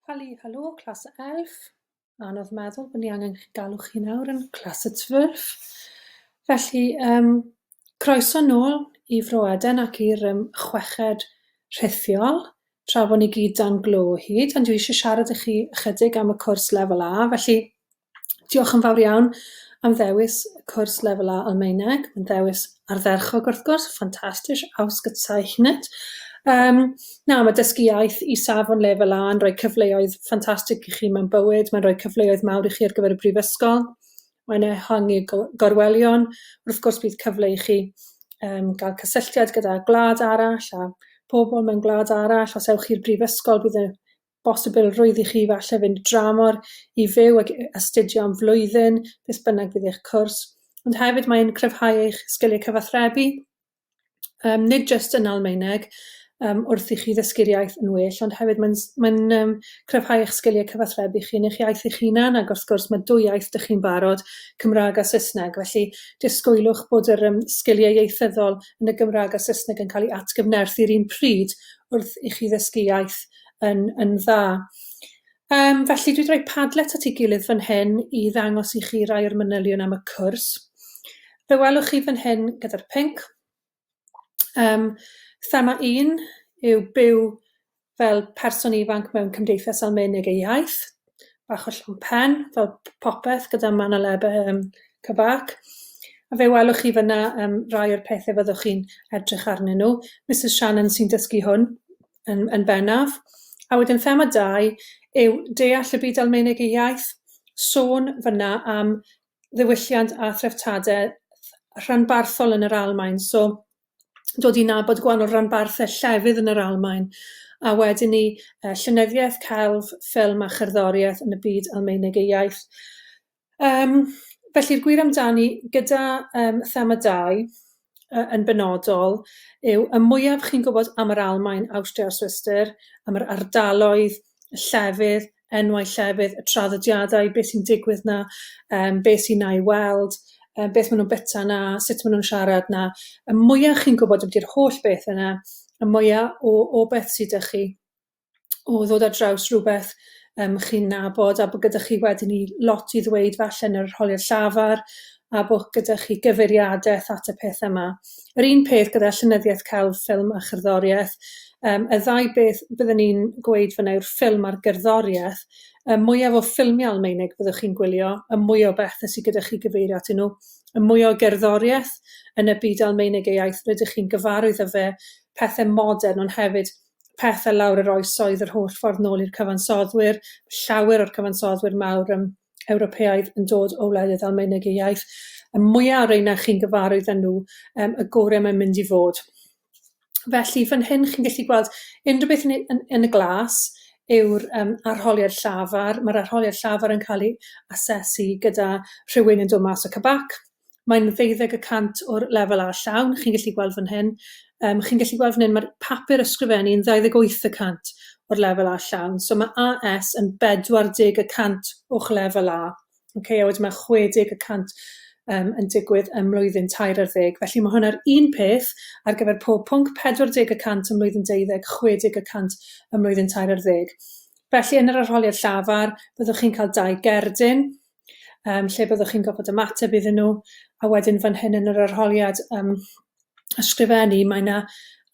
Hali, halo, clas y elf. Anodd meddwl bod ni angen chi galw chi nawr yn clas y twrf. Felly, um, croeso nôl i Fro Eden ac i'r um, chweched rhithiol, tra bod ni gyd dan glo o hyd, ond dwi eisiau siarad i chi ychydig am y cwrs lefel A, felly Diolch yn fawr iawn am ddewis cwrs Lefel A Almaeneg, yn ddewis ardderchog wrth gwrs, fantastisch, ausgezeichnet. Yym na, mae dysgu iaith i safon Lefel A yn rhoi cyfleoedd ffantastig i chi mewn bywyd, mae'n rhoi cyfleoedd mawr i chi ar gyfer y brifysgol, mae'n ehangu go- gorwelion, wrth gwrs bydd cyfle i chi yym gael cysylltiad gyda gwlad arall a pobl mewn gwlad arall, os ewch i'r brifysgol bydd y bosibilrwydd i chi falle fynd dramor i fyw ac astudio am flwyddyn, beth bynnag fydd eich cwrs, ond hefyd mae'n cryfhau eich sgiliau cyfathrebu, um, nid jyst yn Almaeneg, um, wrth i chi ddysgu'r iaith yn well, ond hefyd mae'n mae um, cryfhau eich sgiliau cyfathrebu chi yn eich iaith eich hunan, ac wrth gwrs mae dwy iaith dych chi'n barod, Cymraeg a Saesneg, felly disgwylwch bod yr um, sgiliau ieithyddol yn y Gymraeg a Saesneg yn cael ei atgyfnerthu i'r un pryd wrth i chi ddysgu iaith yn, yn dda. Um, felly dwi'n rhoi padlet at ei gilydd fan hyn i ddangos i chi rai o'r manylion am y cwrs. Fe welwch chi fan hyn gyda'r pink. Um, thema un yw byw fel person ifanc mewn cymdeithas Almaeneg ei iaith, bach o llawn pen, fel popeth gyda manoleb um, cyfac. A fe welwch chi fyna um, rai o'r pethau fyddwch chi'n edrych arnyn nhw. Mrs Shannon sy'n dysgu hwn, yn yn bennaf. A wedyn thema dau yw deall y byd Almaeneg ei iaith, sôn fan'na am ddiwylliant a threftadaeth rhanbarthol yn yr Almaen, so dod i nabod gwahanol ranbarthau llefydd yn yr Almaen, a wedyn 'ny yy llenyddiaeth, celf, ffilm a cherddoriaeth yn y byd Almaeneg ei iaith. Yym, felly'r gwir amdani, gyda yym thema dau yy yn benodol, yw y mwyaf chi'n gwybod am yr Almaen, Awstria a Swistir, am yr ardaloedd, y llefydd, enwau llefydd, y traddodiadau, beth sy'n digwydd 'na, yym beth sy'n 'na i weld, yym beth ma' nhw'n byta 'na, sut ma' nhw'n siarad 'na, y mwya' chi'n gwybod ambiti'r holl beth yna, y mwya' o o beth sy 'da chi. o ddod ar draws rhywbeth um, chi'n nabod a bod gyda chi wedyn i lot i ddweud falle yn yr holiad llafar a bod gyda chi gyfeiriadaeth at y peth yma. Yr un peth gyda llynyddiaeth celf, ffilm a chyrddoriaeth. Um, y ddau beth byddwn ni'n gweud fyna yw'r ffilm a'r gerddoriaeth. Y mwyaf o ffilmiau Almeinig byddwch chi'n gwylio, y mwy o bethau sydd gyda chi gyfeirio atyn nhw, y mwy o gerddoriaeth yn y byd Almeinig ei iaith rydych chi'n gyfarwydd â fe, pethau modern ond hefyd pethe lawr yr oesoedd yr holl ffordd nôl i'r cyfansoddwyr, llawer o'r cyfansoddwyr mawr yym Ewropeaidd yn dod o wledydd Almaeneg ei iaith, y mwya' o reina chi'n gyfarwydd â nhw yym y gore' mae'n mynd i fod. Felly fan hyn chi'n gallu gweld unrhyw beth yn yn yn y glas yw'r yym arholiad llafar, ma'r arholiad llafar yn ca'l 'i asesu gyda rhywun yn dod mas o CBAC, mae'n ddeuddeg y cant o'r lefel A llawn, chi'n gallu gweld fan hyn. Um, chi'n gallu gweld fan hyn, mae'r papur ysgrifennu yn 28 y cant o'r lefel A llawn. So mae AS yn 40 y cant o'ch lefel A. Okay, a wedyn mae 60 y cant um, yn digwydd ym mlwyddyn tair ar ddeg. Felly mae hwnna'r un peth ar gyfer pob pwnc 40 y cant ym mlwyddyn deuddeg, 60 y cant ym mlwyddyn tair ar ddeg. Felly yn yr arholiad llafar, byddwch chi'n cael dau gerdyn, yym lle byddwch chi'n gorfod ymateb iddyn nhw, a wedyn fan hyn yn yr arholiad yym ysgrifennu mae 'na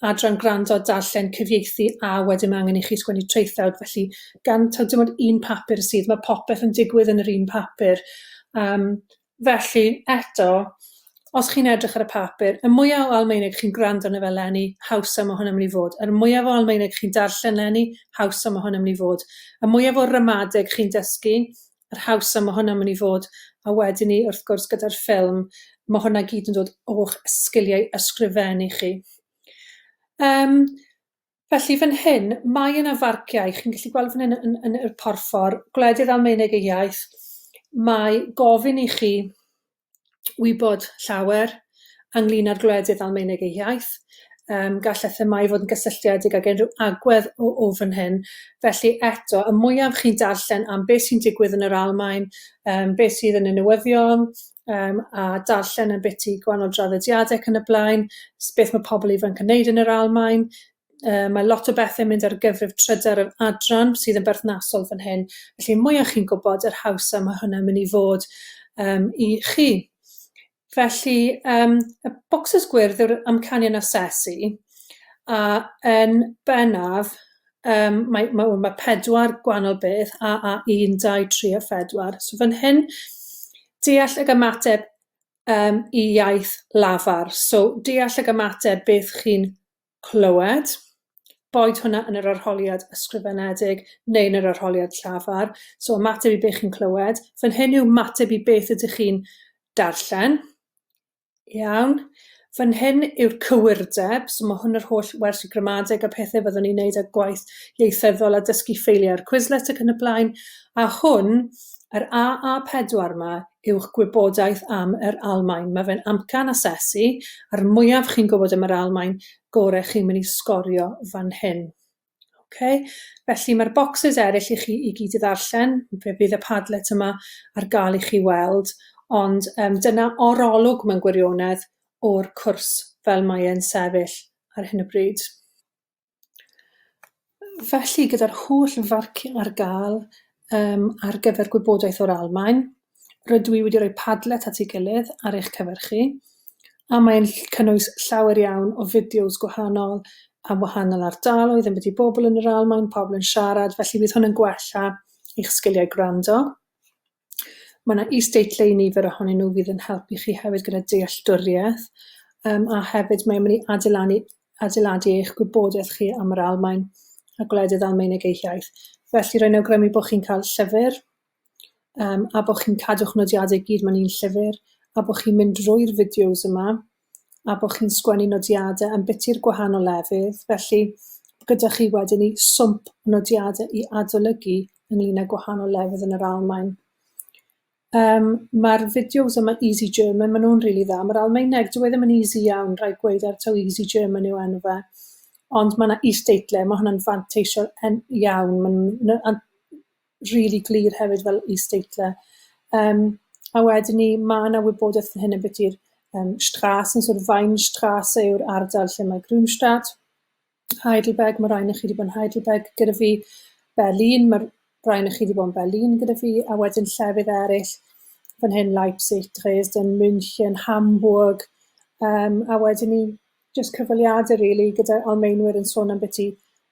adran gwrando, darllen, cyfieithu a wedyn ma' angen i chi sgwennu traethawd felly gan taw dim ond un papur sydd ma' popeth yn digwydd yn yr un papur yym felly eto os chi'n edrych ar y papur y mwya o Almaeneg chi'n gwrando arno fe leni hawsa ma' hwn yn myn' i fod yr mwyaf o Almaeneg chi'n darllen leni hawsa ma' hwn yn myn' i fod y mwyaf o ramadeg chi'n dysgu yr haws a ma' hwnna'n myn' i fod, a wedyn 'ny wrth gwrs gyda'r ffilm ma' hwnna gyd yn dod o'ch sgiliau ysgrifennu chi. Yym felly fan hyn mae yna farciau chi'n gallu gweld fan hyn yn yn y porffor gwledydd Almaeneg y iaith mae gofyn i chi wybod llawer ynglyn â'r gwledydd Almaeneg ei hiaith, yym gallai themâu fod yn gysylltiedig ag unrhyw agwedd o o fan hyn, felly eto, y mwyaf chi'n darllen am beth sy'n digwydd yn yr Almaen, yym beth sydd yn y newyddion, yym a darllen yn biti gwahanol draddodiadau ac yn y blaen, s- beth mae pobl ifanc yn wneud yn yr Almaen, Yy mae lot o bethe'n mynd ar gyfrif trydar yr adran sydd yn berthnasol fan hyn, felly y mwyach chi'n gwybod yr hawsa mae hwnna'n mynd i fod yym i chi. Felly yym y bocsys gwyrdd yw'r amcanion asesu a yn bennaf yym mae ma' wel ma' pedwar gwanol beth a a un dau tri a phedwar so fan hyn deall ag ymateb yym i iaith lafar so deall ag ymateb beth chi'n clywed, boed hwnna yn yr arholiad ysgrifenedig neu yn yr arholiad llafar. So ymateb i beth chi'n clywed. Fan hyn yw ymateb i beth ydych chi'n darllen. Iawn. Fan hyn yw'r cywirdeb, so mae hwn yr holl wers y gramadeg a pethau fyddwn ni'n neud a gwaith ieithyddol a dysgu ffeiliau'r Quizlet ac yn y blaen. A hwn yr AA4 'ma yw'ch gwybodaeth am yr Almaen. Mae fe'n amcan asesu, a'r mwyaf chi'n gwybod am yr Almaen, gore chi'n mynd i sgorio fan hyn. Okay? Felly mae'r bocsys eraill i chi i gyd i ddarllen, fe fydd y Padlet yma ar gael i chi weld, ond um, dyna orolwg mewn gwirionedd o'r cwrs fel mae e'n sefyll ar hyn o bryd. Felly, gyda'r holl farciau ar gael yym ar gyfer gwybodaeth o'r Almaen, rydw i wedi rhoi Padlet at ei gilydd ar eich cyfer chi, a mae'n ll- cynnwys llawer iawn o fideos gwahanol am wahanol ardaloedd, ambiti bobl yn yr Almaen, pobl yn siarad, felly bydd hwn yn gwella eich sgiliau gwrando. Mae 'na is-deitlau i nifer ohonyn nhw fydd yn helpu chi hefyd gyda dealltwriaeth, yym a hefyd mae'n mynd i adeilanu adeiladu eich gwybodaeth chi am yr Almaen a gwledydd Almaeneg eu hiaith. Felly rwy'n awgrymu bod chi'n cael llyfr, yym a bod chi'n cadw'ch nodiadau i gyd mewn un llyfr, a bod chi'n mynd drwy'r fideos yma, a bod chi'n sgwennu nodiadau ambiti i'r gwahanol lefydd, felly gyda chi wedyn i swmp nodiadau i adolygu ynglyn â gwahanol lefydd yn yr Almaen. Um, Mae'r fideos yma Easy German, maen nhw'n rili really dda. Mae'r Almaeneg, dwi e ddim yn easy iawn, rhaid gweud ar taw Easy German yw enw fe. Ond mae yna is-deitle, mae hwnna'n fanteisio iawn. Mae'n rili glir hefyd fel is-deitlau. Yym, a wedyn 'ny ma' 'na wybodaeth fan hyn ambiti'r yym Strasse yn sort of Weinstrasse yw'r ardal lle mae Grünstadt, Heidelberg ma' rai onoch chi 'di bod yn Heidelberg gyda fi, Berlin ma'r rai onoch chi 'di bod yn Berlin gyda fi a wedyn llefydd eryll fan hyn Leipzig, Dresden, München, Hamburg yym a wedyn 'ny jyst cyfweliade rili gyda Almaenwyr yn sôn ambyti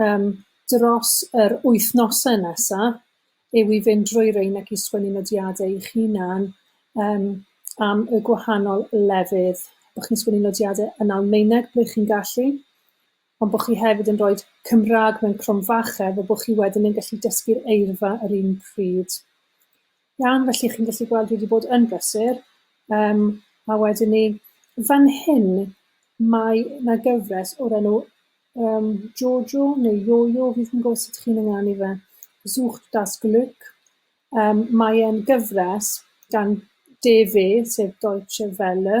yym dros yr wythnosau nesa yw i fynd drwy rein ac i sgwennu nodiadau i'ch hunan yym am y gwahanol lefydd, bo' chi'n sgwennu nodiadau yn Almaeneg ble chi'n gallu, ond bo' chi hefyd yn roid Cymra'g mewn cromfache fel bo' chi wedyn yn gallu dysgu'r eirfa yr un pryd. Iawn, felly chi'n gallu gweld dwi wedi bod yn brysur, um, a wedyn ni, fan hyn, mae yna gyfres o'r enw um, Jojo neu Jojo, fi'n yn gwybod sut chi'n ynganu fe, Sucht das Glück, um, mae'n gyfres gan DW, sef Deutsche Welle,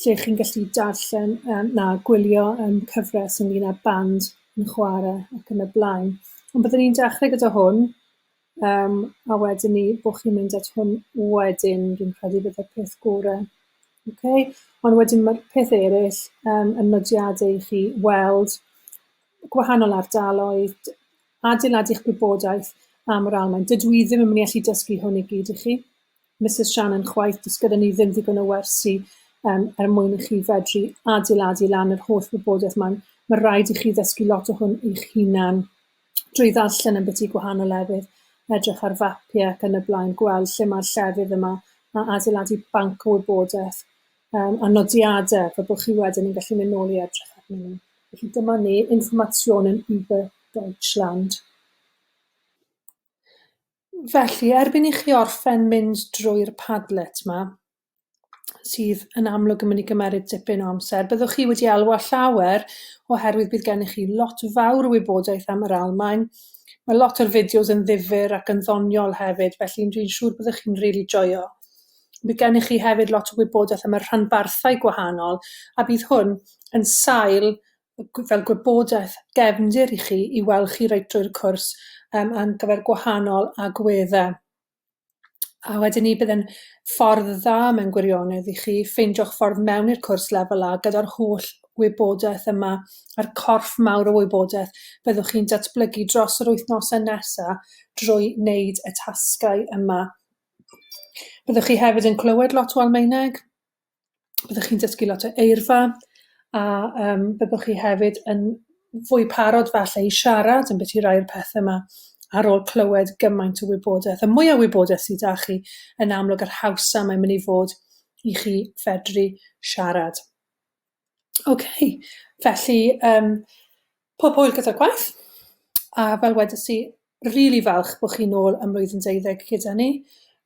lle chi'n gallu darllen yym na gwylio yym cyfres ynglŷn â band yn chware ac yn y blaen. Ond byddwn ni'n dechrau gyda hwn yym a wedyn 'ny bo' chi'n mynd at hwn wedyn dwi'n credu byddai'r peth gore. Oce? Ond wedyn ma'r peth eryll yym yn nodiade i chi weld gwahanol ardaloedd, d- adeiladu'ch gwybodaeth am yr Almaen. Dydw i ddim yn myn' i allu dysgu hwn i gyd i chi. Misus Shannon chwaith, does gyda ni ddim ddigon o wersi um, er mwyn i chi fedru adeiladu lan yr holl wybodaeth mae'n Mae rhaid i chi ddysgu lot o hwn eich hunan drwy ddarllen yn byti gwahanol lefydd, edrych ar fapiau ac yn y blaen, gweld lle mae'r llefydd yma a adeiladu banc o wybodaeth um, a nodiadau fe bod chi wedyn yn gallu mynd nôl i edrych arnyn nhw. Felly dyma ni, informationen über Deutschland. Felly, erbyn i chi orffen mynd drwy'r Padlet 'ma, sydd yn amlwg yn mynd i gymeryd dipyn o amser, byddwch chi wedi elwa llawer oherwydd bydd gennych chi lot fawr o wybodaeth am yr Almaen. Mae lot o'r fideos yn ddifyr ac yn ddoniol hefyd, felly dwi'n siŵr byddwch chi'n rili joio. Bydd gennych chi hefyd lot o wybodaeth am y rhanbarthau gwahanol, a bydd hwn yn sail fel gwybodaeth gefndir i chi i weld chi reit drwy'r cwrs um, ar gyfer gwahanol agweddau. A wedyn ni bydd yn ffordd dda mewn gwirionedd i chi ffeindio'ch ffordd mewn i'r cwrs lefel A gyda'r holl wybodaeth yma, a'r corff mawr o wybodaeth byddwch chi'n datblygu dros yr wythnosau nesaf drwy wneud y tasgau yma. Byddwch chi hefyd yn clywed lot o Almaeneg, byddwch chi'n dysgu lot o eirfa a yym byddwch chi hefyd yn fwy parod falle i siarad yn ambyti rai'r pethe 'ma ar ôl clywed gymaint o wybodaeth. Y mwy o wybodaeth sydd 'da chi, yn amlwg yr hawsa mae'n mynd i fod i chi fedru siarad. Ok, felly yym pob hwyl gyda'r gwaith, a fel wedes i, rili falch bod chi'n ôl ym mlwyddyn deuddeg gyda ni.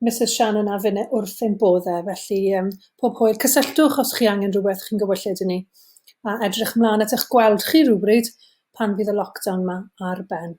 Misus Shannon a finne wrth ein bodd e, felly yym pob hwyl. Cysylltwch os chi angen rhywbeth, chi'n gywylltud i ni, a edrych ymlaen at eich gweld chi rywbryd pan fydd y lockdown 'ma ar ben.